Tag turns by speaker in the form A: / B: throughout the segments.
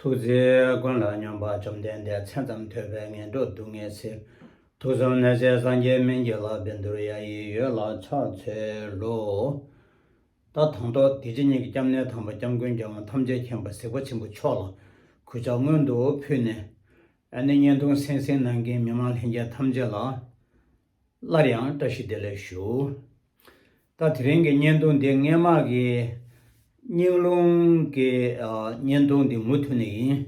A: ཐུགས་རྗེ་ཀུན་ལ་སྙོམས་པ་བཅོམ་ལྡན་འདས་མཚན་ཙམ་ཐོས་པས་ངན་འགྲོ་སྡུག་བསྔལ་ཚེ་དུག་གསུམ་ནད་བསལ་སངས་རྒྱས་སྨན་གྱི་ལག་པས་འདུལ་ཡ་ཡི་ཡོད་ལ་ཕྱག་འཚལ་ལོ། ད་དང་ཐོག་འདི་ཕྱི་གཉིས་ཀྱི་སྐྱབས་གནས་དམ་པ་སྐྱབས་མགོན་རྒྱལ་དབང་ཐམས་ཅད་མཁྱེན་པ་གཟིགས་པ་ཆེན་པོ་མཆོག་ལ་གུས་ཕྱག་སྔོན་དུ་ཕུལ་ནས། ཨ་ནི་བརྙན་ཐུང་སེང་སེང་ནང་གི་མི་མང་ལྷན་རྒྱས་ཐམས་ཅད་ལ། སླར་ཡང་བཀྲ་ཤིས་བདེ་ལེགས་ཞུ། ད་དེ་རིང་གི་བརྙན་ཐུང་འདི་སྔས་མ་གི་སྙིང་རླུང་གི་བརྙན་ཐུང་འདི་མུ་མཐུད་ནས་ཡིན།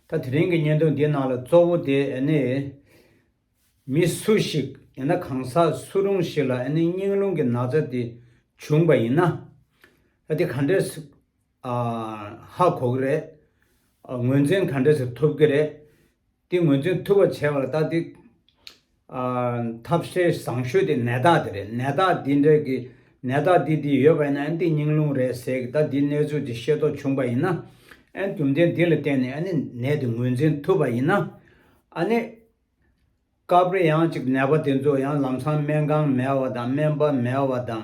A: ད་དེ་རིང་གི་བརྙན་ཐུང་འདི་ནང་ལ་གཙོ་བོ་དེ་ནི་མི་སུ་ཞིག་ཡིན་ན་གང་ཟག་སུ་རུང་ཞིག་ལ་སྙིང་རླུང་གི་ན་ཚ་དེ་བྱུང་བ་ཡིན་ན། དེ་ག་འདྲས་ཧ་གོ་གི་རེད། ངོས་འཛིན་ག་འདྲས་ཐུབ་ཀྱི་རེད། དེ་ངོས་འཛིན་ཐུབ་པ་བྱས་པ་ལ་ལྟ་དེ། ཐབས་ཤེས་བཟང་ཤོས་དེ་ནད་རྟགས་དེ་རེད་ནད་རྟགས་འདི་འདྲ་གི་ནད་རྟགས་འདི་འདི་ཡོད་པ་ཡིན་ན་ཨན་ཏེ་སྙིང་རླུང་རེད་ཟེར་གི་ད་འདིའི་གནས་ཚུལ་འདི་ཤེས་རྟོགས་བྱུང་པ་ཡིན་ན། ཨན་རྒྱུ་མཚན་འདི་ལ་བརྟེན་ནས་ཨ་ནི་ནད་དེ་ངོས་འཛིན་ཐུབ་པ་ཡིན་ན། ཨ་ནི། སྐབས་རེ་ཡང་ཅིག་ནད་པ་དེ་ཚོ་ཡང་ལམ་སང་སྨན་ཁང་མེད་བ་དང་སྨན་པ་མེད་བ་དང།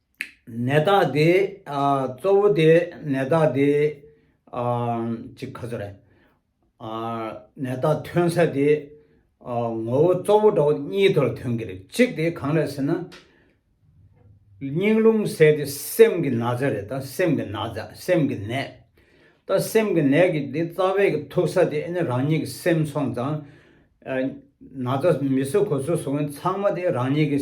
A: ནད་རྟགས་དེ་གཙོ་བོ་དེ་ནད་རྟགས་དེ་གཅིག་ག་ཚོད་རེད། ནད་རྟགས་ཐོན་ས་དེ་ངོ་བོ་གཙོ་བོ་འདྲ་བོ་གཉིས་དོར་ཐོན་གྱི་རེད། གཅིག་དེ་གང་རེད་ཟེར་ན། སྙིང་རླུང་ཟད་དེ་སེམས་ཀྱི་ན་ཚ་རེད་ད་སེམས་ཀྱི་ན་ཚ་སེམས་ཀྱི་ནད། ད་སེམས་ཀྱི་ནད་ཀྱི་དེ་རྩ་བའི་གི་ཐུག་ས་དེ་ནི་རང་ཉིད་ཀྱི་སེམས་སོང་ཙང། ན་ཚ་མི་སོ་གོ་སོ་སོང་ཚང་མ་དེ་རང་ཉིད་ཀྱི་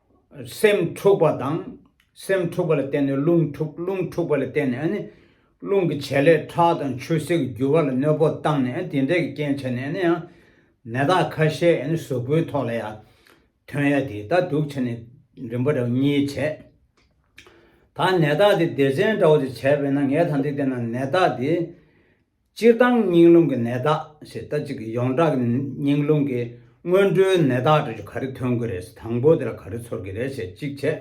A: སེམས་འཁྲུགས་པ་དང། སེམས་འཁྲུགས་པ་ལ་བརྟེན་ནས་རླུང་འཁྲུགས་རླུང་འཁྲུགས་པ་ལ་བརྟེན་ནས་ནི། རླུང་གི་བྱེད་ལས་ཁྲག་དང་ཆུ་སེར་གྱི་རྒྱུ་བ་ལ་གནོད་པོ་བཏང་ནས་དེ་འདྲའི་རྐྱེན་བྱས་ནས་ནི། ནད་རྟགས་ཁ་ཤས་གཟུགས་པོའི་ཐོག་ལ་ཡང་ཐོན་ཡ་དེ་ལྟར་དུག་བྱས་ནས་རིམ་པ་འདྲ་གཉིས་བྱས། ད་ནད་རྟགས་དེ་སྡེ་ཚན་འདྲ་བོ་དེ་བྱས་པས་ན་ངས་ད་འདི་བལྟས་ན་ནད་རྟགས་དེ། སྤྱིར་བཏང་སྙིང་རླུང་གི་ནད་རྟགས་ཞེས་ལྟ་ཅི་གི་ཡོངས་གྲགས་ཀྱི་སྙིང་རླུང་གི་སྔོན་འགྲོའི་ནད་རྟགས་དྲུག་ཅུ་ག་རེ་ཐོན་གི་རེད་དང་པོ་དེ་ལ་ག་རེ་ཚོར་གི་རེད་ཞེས་གཅིག་བྱས།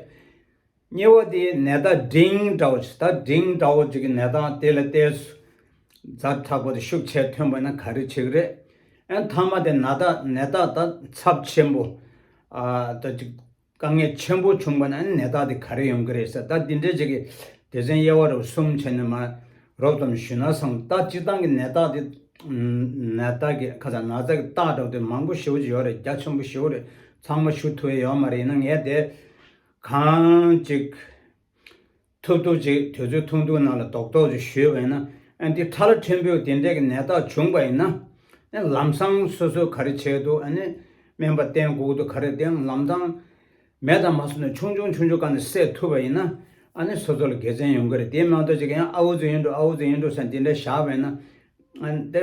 A: གཉིས་པ་དེ་ནད་རྟགས་འབྲིང་དྲག་བོ་ཞེས་ལྟ་འབྲིང་དྲག་བོ་ཅི་གི་ནད་རྟགས་དེ་ལ་བལྟས། རྫ་དྲག་པོ་དེ་ཤུགས་ཆེ་ཐོན་པ་ན་ག་རེ་བྱེད་གི་རེད། ཨན་མཐའ་མ་དེ་ནད་རྟགས་ནད་རྟགས་ད་ཚབས་ཆེན་པོ་ལྟ་ཅི་དཀའ་ངལ་ཆེན་པོ་བྱུང་པ་ན་ནད་རྟགས་དེ་ག་རེ་ཡོང་གི་རེད་ཟེར་ད་འདི་འདྲའི་བྱེད་ཀྱི་དེ་ཚན་དབྱེ་བ་རོབ་གསུམ་བྱས་ནས་མ་རོབ་ཙམ་ཞུས་ན་བཟང་ད་སྤྱིར་བཏང་གི་ནད་རྟགས་དེ། ནད་རྟགས་ཀྱི་ཁ་ཚ་ན་ཚ་གི་རྟགས་གྲགས་དེ་མང་པོ་ཞེའུ་ཅི་ཡོད་རེད་རྒྱ་ཆེན་པོ་བཞིའུ་རེད་ཚང་མ་ཞུ་ཐུབ་ཡས་ཡོད་མ་རེད་ཡིན་ན་ངས་དེ་གང་ཅིག། ཐུབ་ཐུབ་ཅིག་དུས་ཚོད་ཐུང་ཐུང་ནང་ལ་རྡོག་རྡོག་ཅིག་ཞུས་བས་ན་ཨ་འདི་ཐ་ལ་ཕྲན་བུས་དེ་འདྲས་ཀྱི་ནད་རྟགས་བྱུང་པ་ཡིན་ན། ལམ་སང་སོ་སོས་ག་རེ་བྱས་འདུག་ཨ་ནི། སྨན་པ་བསྟེན་སྒུག་འདུག་ག་རེ་བསྟེན་ལམ་སང། མེ་དང་མ་སོ་ནས་ཆུང་ཆུང་ཆུང་ཆུང་ག་ནས་སད་ཐུབ་པ་ཡིན་ན། ཨ་ནི་སོ་སོ་ལ་དགེ་མཚན་ཡོང་གི་རེད་དེའི་སྨན་ཐོག་ཅིག་ཡང་ཨ་འུ་ཚོ་ཡིན་འགྲོ་ཨ་འུ་ཚོ་ཡིན་འགྲོ་ས་འདི་འདྲས་བཞག་བས་ན། ཨ་ནི།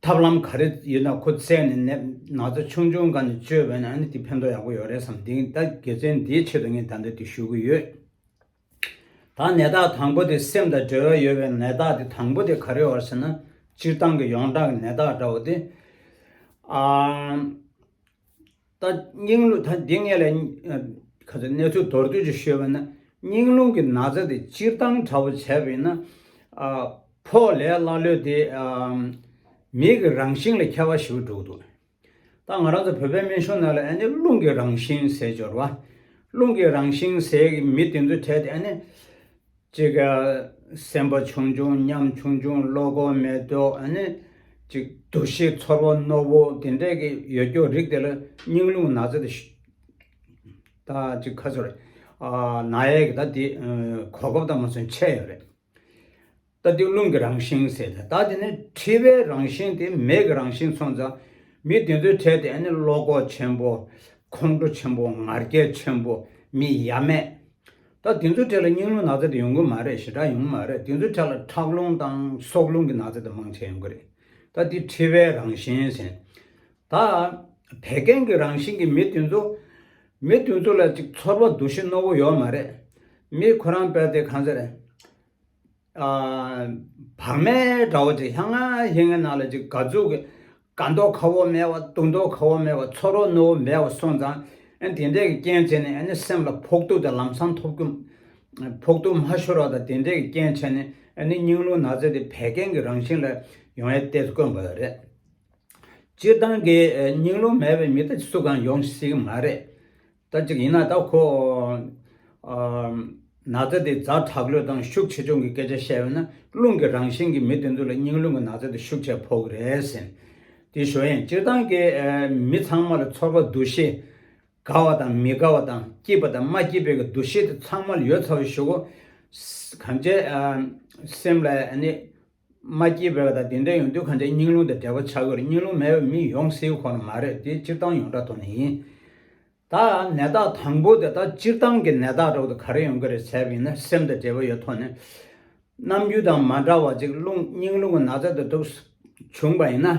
A: ཐབས་ལམ་ག་རེ་ཡོད་ན་ཁོ་བཙལ་ནས་ནད་ཚ་ཆུང་ཆུང་འགའ་ནས་བཅོས་བས་ན་ཨ་ནི་དེ་ཕན་ཐོགས་ཡག་པོ་ཡོད་རེད་བསམ་དེང་ད་དགེ་བཙན་འདིའི་ཆེད་དུ་ངས་ད་འདི་དེ་ཞུ་གི་ཡོད། ད་ནད་རྟགས་དང་པོ་དེ་སེམས་དང་འབྲེལ་བ་ཡོད་པའི་ནད་རྟགས་དེ་དང་པོ་དེ་ག་རེ་བར་ཟེར་ན་སྤྱིར་བཏང་གི་ཡོངས་གྲགས་ཀྱི་ནད་རྟགས་འདྲ་བོ་དེ། ད་སྙིང་རླུང་ད་འདི་ངས་ལ་ག་ཚོད་གནས་ཚུལ་མདོར་བསྡུས་ཀྱིས་ཤོད་པ་ན་སྙིང་རླུང་གི་ན་ཚ་དེ་སྤྱིར་བཏང་དྲ་བོ་བྱས་པ་ཡིན་ན། ཕོག་ལས་ཀླ་ཀློས་དེ་མིག་གི་རང་བཞིན་ལ་ཁྱད་པ་ཞིག་འགྲོ་གི་འདུག་ད་ང་རང་ཚོ་བོད་པའི་སྨན་གཞུང་ནང་ལ་ཨ་ནི་རླུང་གི་རང་བཞིན་ཟས་སྦྱོར་བ། རླུང་གི་རང་བཞིན་ཟས་ཀྱི་མི་དེ་ཚོའི་གྲས་དེ་ཨ་ནི། གཅིག་སེམས་པ་ཆུང་ཆུང་ཉམས་ཆུང་ཆུང་བློ་སྒོ་མེ་ཏོག་གཅིག་འདུ་ཤེས་ཚོར་བ་རྣོ་བོ་དེ་འདྲ་གི་ཡོད་སྐྱོ་རིགས་དེ་ལ་སྙིང་རླུང་ན་ཚ་དེ་ད་ཅིག་ཁ་ཚོར་ན་ཡས་ཀྱི་ད་དེ་གོ་སྐབས་དང་མ་མཚོན་ཆད་ཡོད་རེད། ད་དེ་རླུང་གི་རང་བཞིན་ཟེར་ད་དེ་ནི་འཁྲི་བའི་རང་བཞིན་དེ་མེ་གི་རང་བཞིན་མཚོན་ད་མི་དེ་ཚོའི་གྲས་དེ་བློ་ཁོག་ཆེན་པོ་ཁོང་ཁྲོ་ཆེན་པོ་ངར་སྐད་ཆེན་པོ་མི་ཡ་མེད་ད་དེ་ཚོའི་གྲས་ལ་སྙིང་རླུང་ནག་རྩེད་དུ་ཡོང་གི་མ་རེད་ཞེ་དྲག་ཡོང་གི་མ་རེད་དེ་ཚོའི་གྲས་ལ་ཁྲག་རླུང་དང་སྲོག་རླུང་གི་ནག་རྩེད་དུ་མང་ཆེ་ཡོང་གི་རེད་ད་དེ་ཁྲི་བའི་རང་བཞིན་ཟེར། ད་བད་ཀན་གྱི་རང་བཞིན་གྱི་མི་དེ་ཚོ། མི་དེ་ཚོ་ལ་ཅིག་ཚོར་བ་འདུ་ཤེས་རྣོ་བོ་ཡོད་མ་རེད། མི་ཁོ་རང་བད་དེ་གང་ཟེར། བག་མའི་དགྲ་བོ་དེ་ལྷ་ངའི་ངའི་ནང་ལ་ཅིག་ག་རྫོགས་ཀྱི། དགའ་མདོག་ཁ་བོ་མེད་བ་སྡུག་མདོག་ཁ་བོ་མེད་བ་ཚོར་རོ་རྣོ་བོ་མེད་བ་སོང་ཙང། དེ་འདྲས་ཀྱི་རྐྱེན་བྱས་ནས་ནི་སེམས་ལ་ཕོག་ཐུག་དང་ལམ་སང་ཐོབ་རྒྱུ། ཕོག་ཐུག་མ་ཤོར་བ་དང་དེ་འདྲས་ཀྱི་རྐྱེན་བྱས་ནས་ནི་སྙིང་རླུང་ནག་རྩེ་དེ་བད་ཀན་གྱི་རང་བཞིན་ལ་ཡོང་ཡས་ཏེ་དཀོན་པ་རེད། སྤྱིར་བཏང་གི་སྙིང་རླུང་མེད་པའི་མི་དག་ཅིག་སུ་གང་ཡོང་སྲིད་ཀྱི་མ་རེད། ལྟར་ཅིག་ཡིན་ན་ད་ཁོ། ན་ཚ་དེ་རྫ་བྲག་ལོས་དང་ཤུགས་ཆེ་ཆུང་གི་སྐད་ཆ་བཤད་ཡོད་ན་རླུང་གི་རང་བཞིན་གྱི་མི་དེ་ཚོ་ལ་སྙིང་རླུང་གི་ན་ཚ་དེ་ཤུགས་ཆེ་ཕོག་གི་རེད་ཟེར། དེ་ཞོ་ཡན་སྤྱིར་བཏང་གི་མི་ཚང་མ་ལ་ཚོར་བ་འདུ་ཤེས། དགའ་བ་དང་མི་དགའ་བ་དང་སྐྱིད་པ་དང་མ་སྐྱིད་པའི་གི་འདུ་ཤེས་དེ་ཚང་མ་ལ་ཡོད་ཚ་བོ་ཞིག་གོ། གང་བྱས། སེམས་ལ་ནི། མ་སྐྱེས་པའི་བ་དང་དེ་འདྲའི་ཡོང་དུས་གང་ཆེ་སྙིང་རླུང་དང་བྲལ་བ་ཆགས་ཡོད་རེད་སྙིང་རླུང་མེད་པའི་མི་ཡོང་སྲིད་ཁོ་ན་མ་རེད་དེ་སྤྱིར་བཏང་ཡོངས་གྲགས་ཐོག་ནས་ཡིན། ད་ནད་རྟགས་དང་པོ་དེ་དག་སྤྱིར་བཏང་གི་ནད་རྟགས་འདྲ་བོ་དེ་ག་རེ་ཡོང་གི་རེད་ཟེར་བ་ཡིན་ན་སེམས་དང་འབྲེལ་བ་ཡོད་ཐོག་ནས། ནམ་རྒྱུན་དང་མ་འདྲ་བ་ཅིག་རླུང་སྙིང་རླུང་གི་ནགས་ཚལ་དུ་གྲུབ་བྱུང་བ་ཡིན་ན།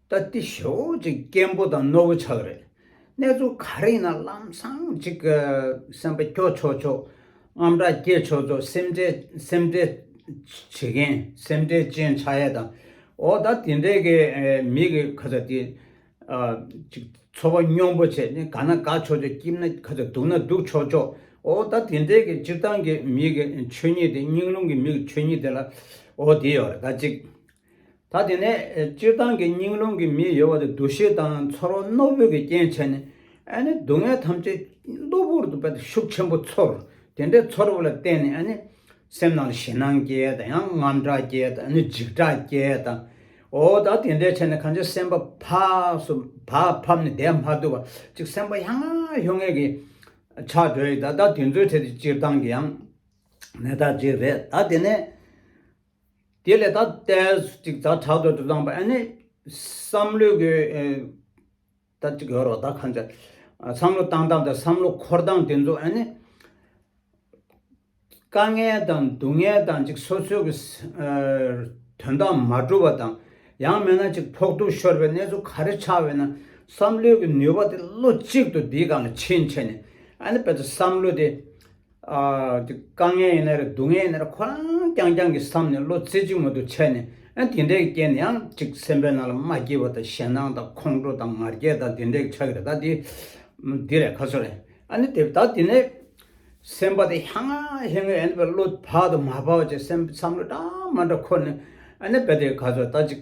A: ད་ལྟའི་ཞོ་གཅིག་སྐྱེན་པོ་དང་རྣོ་བོ་ཆགས་རེད། གནས་ཚུལ་ག་རེ་ཡིན་ན་ལམ་སང་གཅིག་སེམས་པ་སྐྱོ་ཆོག་ཆོག་རྔམ་དྲག་སྐྱེས་ཆོག་ཆོག་སེམས་ཁྲལ་སེམས་ཁྲལ་བྱེད་མཁན་སེམས་ཁྲལ་ཅན་ཆགས་ཡས་དང་འོ་ད་དེ་འདྲས་ཀྱི་མི་གི་ཁ་ཚ་དེ་གཅིག་འཚོ་བ་སྙོམས་པོ་བྱས་ནས་དགའ་ན་དགའ་ཆོག་ཆོག་སྐྱིད་ན་ཁ་ཚ་སྡུག་ན་སྡུག་ཆོག་ཆོག་འོ་ད་དེ་འདྲས་ཀྱི་སྤྱིར་བཏང་གི་མི་གི་ཆོས་ཉིད་དེ་སྙིང་རླུང་གི་མི་གི་ཆོས་ཉིད་དེ་ལ་འོ་དེ་ཡོད་རེད་ད་གཅིག་ད་དེ་ནས་སྤྱིར་བཏང་གི་སྙིང་རླུང་གི་མི་གཡོ་བ་དེ་འདུ་ཤེས་དང་ཚོར་བ་རྣོ་བོས་ཀྱི་རྐྱེན་བྱས་ནས་ཨ་ནི་སྡུག་བསྔལ་ཐམས་ཅད་གློ་བུར་དུ་བས་ཏེ་ཤུགས་ཆེན་པོ་ཚོར། དེ་འདྲའི་ཚོར་བ་ལ་བརྟེན་ནས་ཨ་ནི་སེམས་ནང་ལ་ཞེད་སྣང་སྐྱེས་དང་ཡང་རྔམ་སྐྲག་སྐྱེས་དང་ཨ་ནི་འཇིགས་སྐྲག་སྐྱེས་དང། འོ་ད་དེ་འདྲས་བྱས་ནས་གང་ཅིའི་སེམས་པ་ཕབས་སོ་བབས་ཕབས་ནས་བསྡད་མ་ཐུབ་བ་ཅིག་སེམས་པ་ཡ་ང་ཡོ་ངས་ཀྱི་ཆགས་སྒྲོལ་ཡི་ད་ད་དེ་ཚོའི་ཐད་དེ་སྤྱིར་བཏང་གི་ཡང་ནས་ད་ཅིག་རེད་ད་དེ་ནས། དེ་ལས་ད་ལྟ་ཅིག་ད་དྲག་ཏུ་དུ་བླངས་པ་ཨ་ནི་བསམ་བློའི་གོ་ད་ཅིག་ཡོད་རོགས་ད་གང་ཚེ་བསམ་བློ་བཏང་སྟངས་དང་བསམ་བློ་འཁོར་སྟངས་དེ་ཚོ་ཨ་ནི་དཀའ་ངལ་དང་སྡུག་བསྔལ་དང་ཅིག་སོ་སོའི་གི་དོན་དག་མ་གྲུབ་པ་དང་ཡང་མེད་ན་ཅིག་ཕོག་ཐུག་ཤོར་བའི་གནས་ཚུལ་ག་རེ་ཆགས་ཡོད་ན་བསམ་བློའི་གི་ནུས་པ་དེ་བློ་གཅིག་ཏུ་དེའི་སྒང་ལ་ཕྱིན་ཕྱིན་ནས་ཨ་ནི་དཔེ་ཚོ་བསམ་བློ་དེ། དཀའ་ངལ་ཡིན་ན་རེད་སྡུག་བསྔལ་ཡིན་ན་རེད་ཁོ་རང་རྐྱང་རྐྱང་གི་བསམ་ནས་བློ་རྩེ་གཅིག་མོ་དུ་ཆད་ནས་ཨ་དེ་འདྲའི་རྐྱེན་ནི་ཡང་ཅིག་སེམས་པའི་ནང་ལ་མ་སྐྱེས་པ་དང་ཞེ་སྣང་དང་ཁོང་ཁྲོ་དང་ངར་སྐད་དང་དེ་འདྲའི་ཆགས་རེད་ད་དེ་འདི་རེད་ག་ཚོད་རེད་ཨ་ནི་དེ་ད་དེ་ནས་སེམས་པ་དེ་ཧ་ང་ཧེ་ང་ཡིན་ནི་བས་བློ་བག་དང་མ་བག་བཅས་སེམས་བསམ་བློ་འདྲ་མ་འདྲ་འཁོར་ནས་ཨ་ནི་བས་དེ་ག་ཚོད་ད་ཅིག།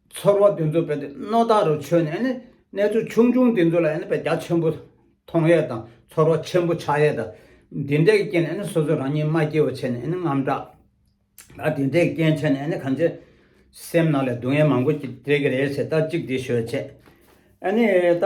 A: ཚོར་བ་དེ་ཚོ་བས་ཏེ་རྣོ་དག་རུ་ཆོད་ནས་ནི་གནས་ཚུལ་ཆུང་ཆུང་དེ་ཚོ་ལ་ཡང་ནི་བས་རྒྱ་ཆེན་པོ་མཐོང་ཡས་དང་ཚོར་བ་ཆེན་པོ་ཆགས་ཡས་དང། འདི་འདྲའི་རྐྱེན་ནི་སོ་སོ་རང་ཉིད་མ་སྐྱེས་བ་ཆེ་ནས་ནི་རྔམ་སྐྲག། ད་དེ་འདྲའི་རྐྱེན་ཆེ་ནས་ནི་གང་བྱེད། སེམས་ནང་ལས་སྡུག་བསྔལ་མང་པོ་ཅིག་སྤྲད་ཀྱི་རེད་ཟེར་ལྟ་ཅིག་འདི་ཤོད་བྱས། ཨ་ནི་ད།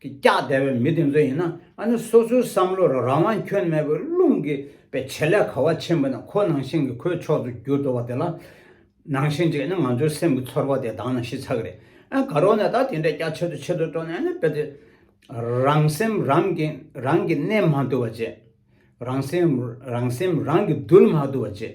A: གི་སྐྱག་དལ་བའི་མི་དེ་ཚོ་ཡིན་ན་ཨ་ནི་སོ་སོའི་བསམ་བློ་རང་དབང་ཁྱོན་མེད་པའི་རླུང་གིས་པའི་བྱེད་ལས་ག་བ་ཆེན་པོ་ནི་ཁོ་ནང་བཞིན་གྱི་ཁོའི་ཕྱོགས་སུ་འགྱུར་འགྲོ་བ་དེ་ལ་ནང་བཞིན་བྱས་ནས་ང་ཚོའི་སེམས་ཀྱི་ཚོར་བ་དེ་དྭངས་ན་ཤི་ཚ་གི་རེད་ཨ་ག་རོ་ནས་ད་དེ་འདྲའི་སྐྱག་ཆེད་དུ་ཆེད་དུ་སྤྲོ་ནས་ཨ་ནི་བེད་སྤྱད་རང་སེམས་རང་གིས་རང་གིས་གནས་མ་བཏུལ་བ་བྱེད་རང་སེམས་རང་སེམས་རང་གིས་རྡུལ་མ་བཏུལ་བ་བྱེད།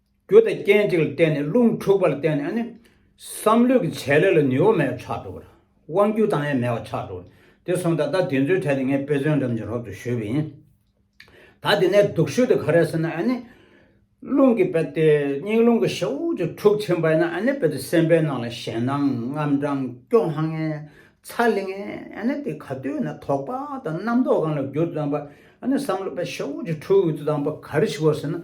A: རྒྱུ་དང་རྐྱེན་གཅིག་ལ་བརྟེན་ནས་རླུང་འཁྲུགས་པ་ལ་བརྟེན་ནས་ནི། བསམ་བློས་ཀྱི་བྱེད་ལས་ལ་ནུས་བ་མེད་པ་ཆགས་འགྲོ་གི། དབང་རྒྱུ་དང་ཡང་མེད་པ་ཆགས་འགྲོ་གི། དེ་སོང་ད་ལྟ་དེ་ཚོའི་གྲས་དེ་ངས་དཔེ་མཚོན་འགྲམ་གྱི་རོབ་ཏུ་བཞུགས་པ་ཡིན། ད་དེ་ནས་སྡུག་ཤོས་དེ་ག་རེད་ཟེར་ན་ཨ་ནི། རླུང་གི་དཔེ་སྟེ་སྙིང་རླུང་གི་ཤ་འུར་ཅིག་འཁྲུགས་ཕྱིན་པ་ཡིན་ན་ཨ་ནི་དཔེ་དེ་སེམས་པའི་ནང་ལ་ཞེད་སྣང་རྔམ་སྐྲང་སྐྱོ་སྣང་ངན་ཚ་ལི་ངན་ཨ་ནི་དེ་ག་དུས་ན་དོགས་པ་དང་རྣམ་རྟོག་གང་ལ་བསྒྱུར་དུ་བཏང་པ་ཨ་ནི་བསམ་བློ་དཔེ་ཤ་འུར་ཅིག་འཁྲུགས་ཡོད་དུ་བཏང་པ་ག་རེ་ཞིག་གོ་ཟེར་ན།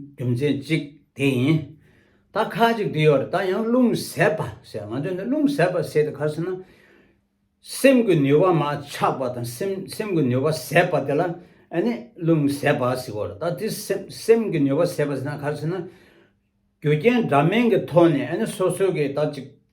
A: རྒྱུ་མཚན་གཅིག་དེ་ཡིན། ད་ཁ་ཅིག་དེ་ཡོད་རེད་ད་ཡང་རླུང་ཟད་པ་ཟེར་ང་ཚོས་འདི་རླུང་ཟད་པ་ཟེར་ཏེ་ག་ཟེར་ན། སེམས་ཀྱི་ནུས་པ་མ་ཆགས་པ་དང་སེམས་སེམས་ཀྱི་ནུས་པ་ཟད་པ་དེ་ལ་ཨ་ནི་རླུང་ཟད་པ་ཟེར་བ་རེད་ད་དེ་སེམས་སེམས་ཀྱི་ནུས་པ་ཟད་པ་ཟེར་ན་ག་ཟེར་ན། རྒྱུ་རྐྱེན་འདྲ་མིན་གྱི་ཐོག་ནས་ཨ་ནི་སོ་སོ་གིས་ད་ཅིག།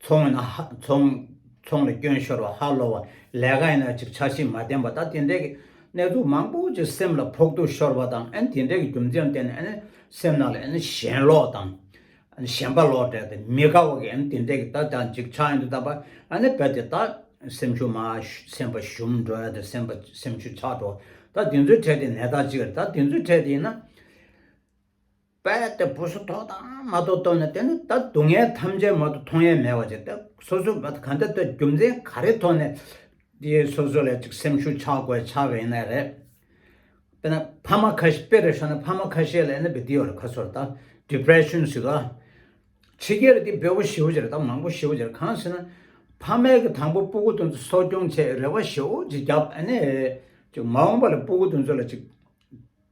A: ཚོང་ཡིན་ན་ཧ། ཚོང། ཚོང་ལ་སྐྱོན་ཤོར་བ་ཧ་ལོ་བ། ལས་ཀ་ཡིན་ན་ཅིག་ཆ་ཤིང་མ་བརྟན་པ་ད་དེ་འདྲས་ཀྱི་གནས་ཚུལ་མང་པོ་ཅིག་སེམས་ལ་ཕོག་ཐུག་ཤོར་བ་དང་ཨན་དེ་འདྲས་ཀྱི་རྒྱུ་མཚན་བརྟེན་ནས་ཨན་སེམས་ནང་ལ་ཨན་ཞེན་ལོག་དང། ཨན་ཞེན་པ་ལོག་འདྲས་ཏེ་མི་དགའ་བ་གི་ཨན་དེ་འདྲས་ཀྱི་ད་ད་ཅིག་ཆ་ཡིན་དུ་ད་པ་ཨན་ནས་བལ་ཏེ་ད་སེམས་ཤུགས་མ་སེམས་པ་ཞུམ་འགྲོ་ཨན་དེ་སེམས་པ་སེམས་ཤུགས་ཆག་འགྲོ་ད་དེ་ཚོའི་གྲས་དེ་ནས་ད་ཅིག་རེད་ད་དེ་ཚོའི་གྲས་དེ་ཡིན་ན། པས་ཏེ་བུ་སོ་ཐོག་དང་མ་ཐོག་སྟོན་ནས་དེ་ནི་ད་སྡུག་བསྔལ་ཐམས་ཅད་མ་ཏུ་མཐོང་ཡས་མས་བ་ཅིག་སྟེ་སོ་སོའི་བ་ག་འདི་ལྟར་རྒྱུ་མཚན་ག་རེ་ཐོག་ནས་དེའི་སོ་སོ་ལས་ཅིག་སེམས་ཤུགས་ཆག་གོ་ཆག་གི་ཡིན་ནའི་རེད་པས་ན་ཕ་མ་ཁ་ཤས་པེ་རེ་ཤོ་ན་ཕ་མ་ཁ་ཤས་ལས་ནི་བི་དེ་ཡོ་རེ་ཁ་སོ་རེ་ད depression སི་ག་ཕྱི་རྒྱལ་རེ་དེ་བེ་བོ་ཞི་བོ་ཅི་རེ་ད་མང་པོ་ཞི་བོ་ཅི་རེ་གང་སི་ན་ཕ་མས་གི་དང་པོ་པུ་གུ་དོན་ཚོ་སོ་སྐྱོང་ཆེད་རེ་བ་ཞི་བོ་ཅི་རྒྱབ་ཨ་ནི་ཅིག་མ་འོངས་པ་ལ་པུ་གུ་དོན་ཚོ་ལ་ཅིག།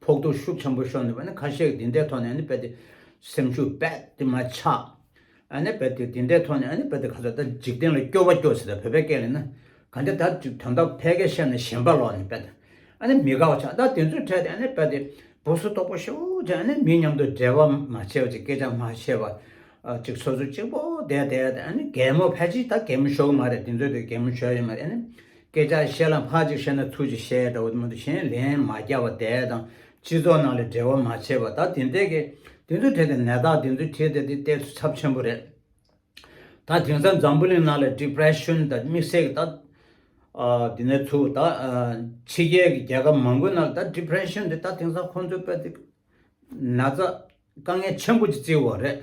A: ཕོག་ཐུག་ཤུགས་ཆེན་པོ་ཤོར་འདུག་པ་ནི་ཁ་ཤས་ཀྱིས་འདི་འདྲའི་ཐོག་ནས་ནི་རྦད་དེ་སེམས་ཤུགས་རྦད་དེ་མ་ཆག་ཨ་ནི་རྦད་དེ་འདི་འདྲའི་ཐོག་ནས་ཨ་ནི་རྦད་དེ་ཁ་ཚ་ད་འཇིག་རྟེན་ལ་སྐྱོ་བ་སྐྱོ་ཟེར་ད་བོད་པའི་སྐད་ལས་ན་ག་འདྲ་ད་དོན་དག་ཕལ་སྐད་བཤད་ན་གཞན་པ་ལོག་ནས་རྦད་དེ་ཨ་ནི་མི་དགའ་བ་ཆག་ད་དེ་ཚོའི་གྲས་དེ་ཨ་ནི་རྦད་དེ་སྦུབ་སུ་ལྟོགས་པོ་ཤོ་ཅིག་ཨ་ནི་མི་མཉམ་དུ་འབྲེལ་བ་མ་བྱེད་ཅིག་སྐད་ཆ་མ་བཤད་པ་ཅིག་ཚོ་ཚོ་གཅིག་པོ་བསྡད་བསྡད་དེ་ཨ་ནི་གད་མོ་ཕལ་ཆེར་ད་གད་མོ་ཞོ་གི་མ་རེད་དེ་ཚོའི་དེ་གད་མོ་ཞོ་ཡོད་མ་རེད་ཨ་ནི། སྐད་ཆ་བཤད་ལ་སྔགས་ཅིག་བཤད་ན་ཐུགས་ཀྱི་བཤད་གྲྭ་འོ་མ་འདུ་ཤེས་ལན་མ་བརྒྱ་བ་དེ་དང་སྤྱི་ཚོགས་ནང་ལ་འབྲེལ་བ་མ་བྱས་པ་ད་དེ་འདྲས་ཀྱི་དེ་ཚོ་བྲིས་ཏེ་ནད་བདག་དེ་ཚོ་བྲིས་ཏེ་དེ་གཏད་ཚུལ་ཚབས་ཆེན་པོ་རེད། ད་དེང་སང་འཛམ་བུ་གླིང་ནང་ལ Depression དང་དམིགས་བསལ་གྱི་ད་དེ་ནས་ཚུ་ད་ཕྱི་རྒྱལ་གྱི་རྒྱལ་ཁབ་མང་པོའི་ནང་ལ་ད Depression དེ་ད་དེང་སང་ཁོང་ཚོའི་དཔེ་དེ་ན་ཚ་དཀའ་ངལ་ཆེན་པོ་ཅིག་བརྩི་བ་རེད།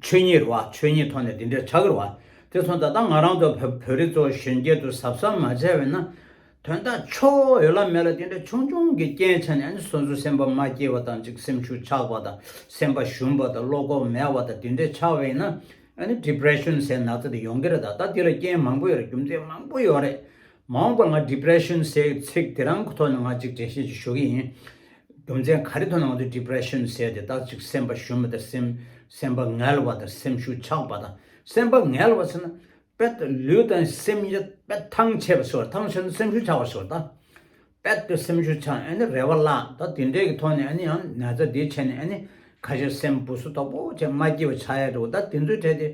A: ཆོས་ཉིད་རེད་བ། ཆོས་ཉིད་ཐོག་ནས་འདི་འདྲའི་ཆག་གི་རེད་བ། དེ་མཚུངས་ད་ལྟ་ང་རང་ཚོ་བོད་རིགས་ཚོ་གཞོན་སྐྱེས་ཚོ་ཟབ་ཟབ་མ་བྱས་བས་ན། དོན་དག་ཕྱོགས་ཡོད་ལ་མེད་ལ་དེ་འདྲའི་ཆུང་ཆུང་གི་རྐྱེན་ཆ་ནས་ནི་སོ་སོའི་སེམས་པ་མ་སྐྱིད་བ་དང་ཅིག་སེམས་ཤུགས་ཆག་པ་དང་སེམས་པ་ཞུམ་པ་དང་བློ་ཁོག་མེད་བ་དང་དེ་འདྲའི་ཆག་བས་ན། Depression ཟེར་ནག་ཚ་དེ་ཡོང་གི་རེད་ད་ལྟ་དེ་ལ་རྐྱེན་མང་པོ་ཡོད་རེད་རྒྱུ་མཚན་མང་པོ་ཡོད་རེད། མ་འོངས་པར་ང Depression ཟེར་བའི་ཚིག་དེ་རང་གི་ཐོག་ནས་ང་གཅིག་དྲན་ཤེས་ཀྱིས་ཞུ་གི་ཡིན། རྒྱུ་མཚན་ག་རེ་ཐོག་ནས་ང་ཚོས Depression ཟེར་དེ་དག་ཅིག་སེམས་པ་ཞུམ་པ་དང་སེམས་པ་ངལ་བ་དང་སེམས་ཤུགས་ཆག་པ་དང་སེམས་པ་ངལ་བ་ཟེར་ན་དཔེ་ལྟར་ལུས་དང་སེམས་ཡིད་དཔེ་ཐང་ཆད་པ་ཟེར་བ་ཐང་ཆད་ན་སེམས་ཤུགས་ཆག་པ་ཟེར་བ་དང། དཔེ་ལྟར་སེམས་ཤུགས་ཆག་ནས་ཨ་ནི་རེ་བ་བརླག་ད་དེ་འདྲའི་གི་ཐོག་ནས་ཨ་ནི་ཡང་ན་ཚ་དེའི་ཆེད་ནས་ཨ་ནི་ཁ་ཤས་སེམས་བུ་སོ་དོག་པོ་ཆེ་མ་སྐྱེས་པ་ཆག་ཡ་རེད་བ་ད་དེ་ཚོའི་གྲས་དེ་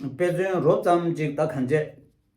A: དཔེ་མཚོན་རོབ་ཙམ་ཅིག་ད་གང་ཆད།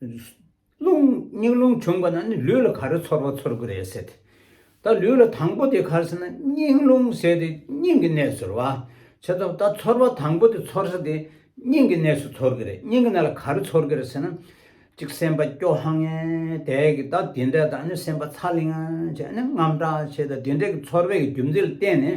A: རླུང། སྙིང་རླུང་བྱུང་བ་ན་ནི་ལུས་ལ་ག་རེ་ཚོར་བ་ཚོར་གི་རེད་ཟེར་ཏེ། ད་ལུས་ལ་དང་པོ་དེ་གར་ཟེར་ན་སྙིང་རླུང་ཟེར་ཏེ་སྙིང་གི་གནས་སུ་རེད་བ། བྱས་ཙང་ད་ཚོར་བ་དང་པོ་དེ་ཚོར་ས་དེ་སྙིང་གི་གནས་སུ་ཚོར་གི་རེད་སྙིང་གི་གནས་ལ་ག་རེ་ཚོར་གི་རེད་ཟེར་ན། ཅིག་སེམས་པ་སྐྱོ་ཧ་ངེ་དེ་གི་ད་དེ་འདྲས་དང་ནི་སེམས་པ་ཚ་ལིང་ང་བྱས་ནས་རྔམ་དྲག་བྱས་ད་དེ་འདྲས་ཀྱི་ཚོར་བའི་རྒྱུ་མཚན་ལ་བརྟེན་ནས།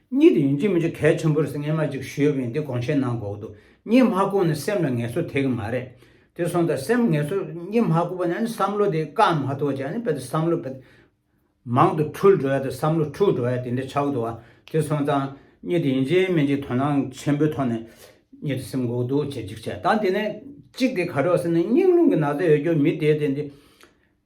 A: གཉིད་དུ་ཡིན་གཅིག་མིན་གཅིག་གལ་ཆེན་པོ་རེད་སྙན་ངག་ཅིག་ཞུས་པ་ཡིན་དེ་དགོངས་བཞེས་གནང་དགོས་འདུག་གཉིད་མ་བསྐུར་ན་སེམས་ལ་ངལ་གསོ་ཐེབས་ཀྱི་མ་རེད། དེ་སོང་ད་སེམས་ངལ་གསོ་གཉིད་མ་བསྐུར་བ་ནི་ཨ་ནི་བསམ་བློ་དེ་བཀག་མ་ཐུབ་བ་ཅིག་ཨ་ནི་དཔེ་ད་བསམ་བློ་མང་དུ་འཁྲུལ་འགྲོ་ཡ་ད་བསམ་བློ་འཁྲུག་འགྲོ་ཡ་དེ་འདྲ་ཆགས་འདུག་དེ་སོང་ཙང་གཉིད་དུ་ཡིན་གཅིག་མིན་གཅིག་དོ་སྣང་ཆེན་པོའི་ཐོག་ནས་གཉིད་དུ་སེམས་འགུག་འདུག་བྱེད་ཅིག་བྱས་ད་དེ་ནས་གཅིག་དེ་ག་རེ་བ་ཟེར་ན་སྙིང་རླུང་གི་ན་ཚ་ཡོད་རྒྱུ་མི་དེ་དེ་འདི།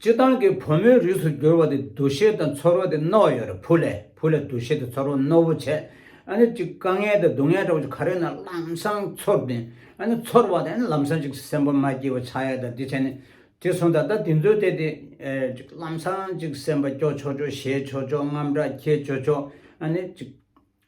A: སྤྱི་བཏང་གི་བུ་མོའི་རིགས་སུ་གྱུར་བ་དེ་འདུ་ཤེས་དང་ཚོར་བ་དེ་རྣོ་ཡོད་རེད་བུ་ལས་བུ་ལས་འདུ་ཤེས་དང་ཚོར་བ་རྣོ་བོ་བྱས་ཨ་ནི་ཅིག་དཀའ་ངལ་དང་སྡུག་བསྔལ་འདྲ་བོ་ཅིག་ག་རེ་ན་ལམ་སང་ཚོར་དེ་ཨ་ནི་ཚོར་བ་དེ་ཨ་ནི་ལམ་སང་ཅིག་སེམས་པ་མ་སྐྱིད་བ་ཆགས་ཡ་དང་དེ་བྱས་ནས་དེ་སོང་ད་ལྟ་དེ་ཚོའི་ཐད་དེ་ཅིག་ལམ་སང་ཅིག་སེམས་པ་སྐྱོ་ཆོག་ཆོག་ཞེད་ཆོག་ཆོག་རྔམ་དྲག་ཁྱེད་ཆོག་ཆོག་ཨ་ནི་ཅིག།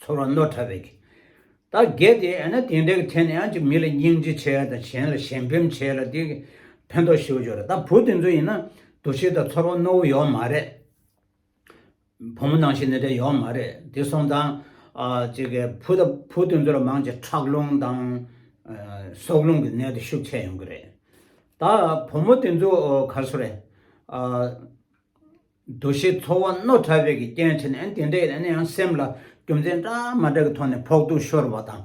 A: ཚོར་བ་རྣོ་དྲགས་པའི་ཁྱི། ད་གེ་དེ་ཨེ་ན་དེ་འདྲའི་ཁྱི་ནི་ཨ་ཅེ་མི་ལ་སྙིང་རྗེ་ཆེ་ཡ་དང་གཞན་ལ་ཞེན་ཕེམ་ཆེ་ལ་དེ་ཕན་ཐོགས་ཤིའོ་ཅོ་རེད་ད་བུ་དེ་ཚོ་ཡིན་ན་འདུ་ཤེས་དང་ཚོར་བ་རྣོ་བོ་ཡོག་མ་རེད། བུ་མོ་ནང་བཞིན་འདི་འདྲ་ཡོག་མ་རེད་དེ་སོང་ཙང་ཅེ་གེ་བུ་དང་བུ་དེ་ཚོ་ལ་མང་ཆེ་ཁྲག་རླུང་དང་སྲོག་རླུང་གི་ནད་དེ་ཤུགས་ཆེ་ཡོང་གི་རེད། ད་བུ་མོ་དེ་ཚོ་ག་སུ་རེད། འདུ་ཤེས་ཚོར་བ་རྣོ་དྲགས་པའི་གི་རྐྱེན་བྱས་ནས་དེ་འདྲའི་ནས་ཡང་སེམས་ལ་རྒྱུ་མཚན་འདྲ་མ་འདྲ་གི་ཐོག་ནས་ཕོག་ཐུག་ཤོར་བ་དང།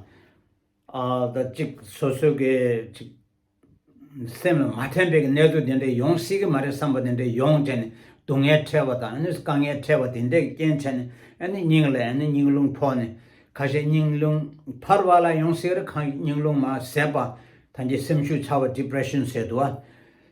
A: ད་ཅིག་སོ་སོའི་གི་ཅིག། སེམས་ལ་མ་དྲན་པའི་གི་གནས་ཚུལ་དེ་འདྲའི་ཡོང་སྲིད་གི་མ་རེད་བསམ་པ་དེ་འདྲའི་ཡོང་བྱས་ནས་སྡུག་བསྔལ་འཕྲད་པ་དང་དཀའ་ངལ་འཕྲད་པ་དེ་འདྲའི་གི་རྐྱེན་བྱས་ནས་སྙིང་ལ་སྙིང་རླུང་ཕོག་ནས། ཁ་ཤས་སྙིང་རླུང་འཕར་བ་ལ་ཡོང་སྲིད་རེད་ཁ་སྙིང་རླུང་མ་ཟད་པ་ཐམས་ཅད་སེམས་ཤུགས་ཆག་པ depression ཟེར་དུ་བ།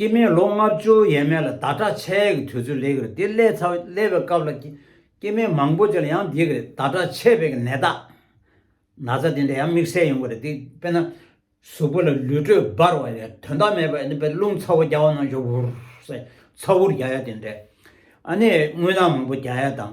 A: སྐྱེས་མའི་ལོ་ལྔ་བཅུ་ཡས་མས་ལ་བདག་དྲག་ཆས་ཀྱི་དུས་ཚོད་ལེགས་རེད་དེ་སླེ་ཚ་བསླེ་བའི་སྐབས་ལ་སྐྱེས་མའི་མང་པོ་ཅིག་ལ་ཡང་འདི་རེད་བདག་དྲག་ཆས་བས་ཀྱི་ནད་རྟགས་ན་ཚ་དེ་འདྲ་ཡང་དམིགས་བསལ་ཡོང་གི་རེད་དེ་དཔེར་ན་གཟུགས་པོ་ལ་ལུས་དྲོད་འབར་བ་ཡོད་དོན་དག་མེད་པ་ཡོད་དཔེར་རླུང་ཚ་བོ་རྒྱ་བ་ནང་བཞུར་བུར་ཚ་བུར་རྒྱ་ཡ་དེ་འདྲས་ཨ་ནས་རྔུལ་ནག་མང་པོ་རྒྱ་ཡ་དང།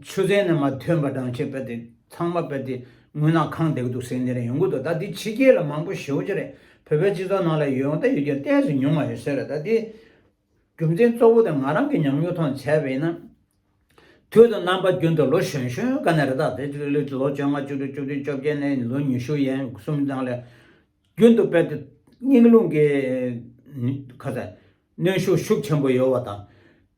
A: ཆུ་ཚན་ནས་མ་ཐོན་པ་འགྲངས་ཆེ་བལྟས་ཏེ་ཚང་མ་བལྟས་ཏེ་ངུས་ན་ཁང་བདེ་གི་འདུག་ཟེར་ནི་རེད་ཡོང་གི་འདུག་ད་དེ་ཕྱི་རྒྱལ་ལ་མང་པོ་ཞེ་བོ་ཅི་རེད་བོད་པའི་སྤྱི་ཚོགས་ནང་ལ་ཡོད་ད་ཡོད་ཀྱི་གཏན་སུ་མྱོང་མ་ཡོད་ཟེར་རེད་ད་དེ་རྒྱུ་མཚན་གཙོ་བོ་དེ་ང་རང་གི་ཉམས་མྱོང་ཐོག་ནས་བྱས་པ་ཡིན་ན། དུས་དང་རྣམ་པ་རྒྱུན་དུ་ལོ་གཞོན་གཞོན་དཀའ་ནི་རེད་ད་དེ་ཚོ་ལོ་བཅོ་ལྔ་བཅུ་དྲུག་བཅུ་བདུན་བཅོ་བརྒྱད་ནས་ལོ་ཉི་ཤུ་ཡན་གསུམ་ནང་ལ་རྒྱུན་དུ་བལྟས་ཏེ་སྙིང་རླུང་གི་གནོན་ཤུགས་ཤུགས་ཆེན་པོ་ཡོད་བ་དང།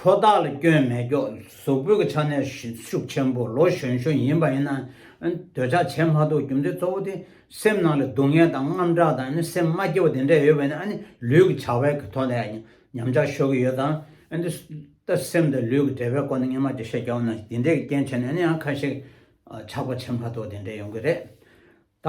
A: ཕོ་རྟགས་ལ་སྐྱོན་མེད་སྐྱོག་གཟུགས་སྤོས་ཀྱི་ཆ་ནས་ཤུགས་ཆེན་པོ་ལོ་གཞོན་ཤོས་ཡིན་པ་ཡིན་ན་འདོད་ཆགས་བྱེད་མ་ཐུབ་རྒྱུ་མཚན་གཙོ་བོ་དེ་སེམས་ནང་ལ་སྡུག་བསྔལ་དང་རྔམ་སྐྲག་དང་སེམས་མ་སྐྱིད་པོ་དེ་འདྲ་ཡོད་པས་ན་ལུས་ཀྱི་བྱ་བའི་ཐོག་ནས་ཉམས་ཆག་ཤོར་གྱི་ཡོད་དམ། སེམས་དང་ལུས་ཀྱི་འབྲེལ་བའི་སྐོར་ནས་ངེས་མ་བརྗོད་བཤད་རྒྱག་ན་དེ་འདྲའི་རྐྱེན་བྱས་ནས་ཡང་ཁ་ཤས་ཆག་པ་བྱེད་མ་ཐུབ་དེ་འདྲ་ཡོང་གི་རེད་ད།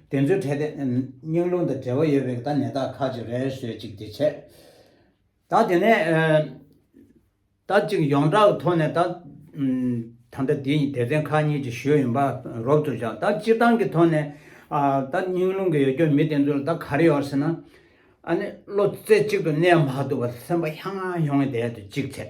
A: དེ་ཚོའི་གྲས་དེ་སྙིང་རླུང་དང་འབྲེལ་བ་ཡོད་པའི་ད་ནད་རྟགས་ཁག་ཅིག་རེ་ཟོས་ཅིག་དེ་བྱས། ད་དེ་ནས་ད་ཅིག་ཡོངས་གྲགས་ཀྱི་ཐོག་ནས་ད། ད་ལྟ་དེ་སྡེ་ཚན་ཁག་གཉིས་ཀྱི་ཞོལ་ཡིན་པ་རོབ་ཏུ་བཞག་ད་སྤྱིར་བཏང་གི་ཐོག་ནས། ད་སྙིང་རླུང་གི་ཡོ་སྐྱོར་མི་དེ་ཚོ་ལ་ད་ག་རེ་ཡོད་ཟེར་ན། ཨ་ནི་བློ་རྩེ་གཅིག་ཏུ་གནས་མ་ཐུབ་པར་སེམས་པ་ཧྱང་ཧྱང་ཡོང་གི་བསྡད་དུ་ཅིག་བྱས།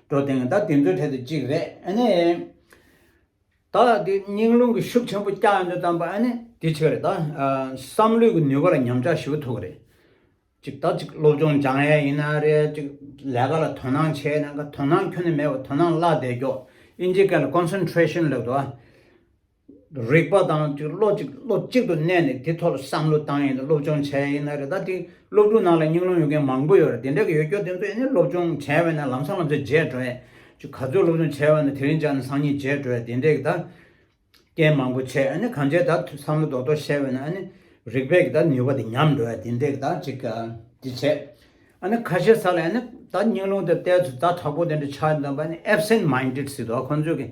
A: འགྲོ་དེང་ད་དེ་ཚོའི་གྲས་དུ་གཅིག་རེད་ཨ་ནི། ད་དེ་སྙིང་རླུང་གི་ཤུགས་ཆེན་པོ་བསྐྱག་ཡོང་དུས་བལྟམས་པ་ཨ་ནི། དེ་ཕྱིར་ད་བསམ་བློའི་གི་ནུས་པ་ལ་ཉམས་ཆག་ཞུ་ཐུབ་ཀྱི་རེད། གཅིག་ད་གཅིག་སློབ་སྦྱོང་སྦྱང་ཡས་ཡིན་ན་རེད་གཅིག་ལས་ཀ་ལ་དོ་སྣང་བྱས་ཡས་ན་དོ་སྣང་ཁྱོན་ནས་མེད་པ་དོ་སྣང་བརླག་བསྡད་ཀྱོག་ཨིན་ཇི་སྐད་ལ Concentration ལབ་དུ་ཨ། རིག་པ་དང་དུ་བློ་གཅིག་བློ་གཅིག་ཏུ་གནས་ནས་དེ་ཐོག་ལ་བསམ་བློ་བཏང་ཡས་ནས་སློབ་སྦྱོང་བྱས་ཡས་ན་རེ་ད་དེ་སློབ་ཕྲུག་ནང་ལ་སྙིང་རླུང་ཡོད་མཁན་མང་པོ་ཡོད་རེད་དེ་འདྲ་གི་ཡོད་སྐྱོ་དེ་ཚོ་ཡས་ནས་སློབ་སྦྱོང་བྱས་བས་ན་ལམ་སང་ལམ་ཚོད་རྗེས་འགྲོ་ཡས་ཆུ་ག་ཚོད་སློབ་སྦྱོང་བྱས་བས་ན་དེ་རིང་ཅག་ནས་སང་ཉིན་རྗེས་འགྲོ་ཡས་དེ་འདྲས་གི་ད་རྐྱེན་མང་པོ་བྱས་ཡས་ནས་གང་བྱས་ད་བསམ་བློ་རྡོག་རྡོག་བྱས་བས་ན་ཡས་ནས་རིག་པས་གི་ད་ནུས་པ་དེ་ཉམས་འགྲོ་ཡས་དེ་འདྲས་གི་ད་ཅིག་ག་དེ་བྱས་ཡས་ནས་ཁ་ཤས་ས་ལ་ཡས་ནས་ད་སྙིང་རླུང་དེ་བལྟས་ཚུ་ད་དྲག་པོ་དེ་འདྲས་ཆགས་ཡས་ནས་ཨེབ་སེན་མཱིན་ཏེད་སི་འདུག་ཁོང་ཚོས་གི་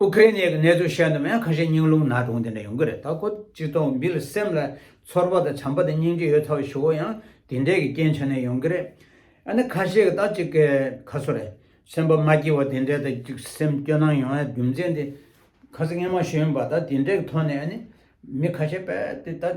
A: ཨུ་ཀྲེ་ནེ་གི་གནས་ཚུལ་བཤད་འདོད་མེད་ཁ་ཤས་སྙིང་རླུང་ནག་དྲུང་དེ་འདྲ་ཡོང་གི་རེད་ད་ཁོ་སྤྱི་ཚོགས་འདིར་སེམས་ལ་ཚོར་བ་དང་བྱམས་པ་དང་སྙིང་རྗེ་ཡོད་ཚ་བ་ཞུ་བ་ཡང་དེ་འདྲས་ཀྱི་རྐྱེན་བྱས་ནས་ཡོང་གི་རེད་ཨ་ནི་ཁ་ཤས་ཀྱི་ད་ཅིག་གི་ཁ་སོ་རེད་སེམས་པ་མ་སྐྱིད་བ་དེ་འདྲས་ད་ཅིག་སེམས་སྐྱོ་སྣང་ཡོང་ཡ་རྒྱུ་མཚན་དེ་ཁ་ས་ངན་མ་ཞུ་ཡོང་པ་ད་དེ་འདྲས་ཀྱི་ཐོག་ནས་ཨ་ནི་མི་ཁ་ཤས་པས་དེ་ད།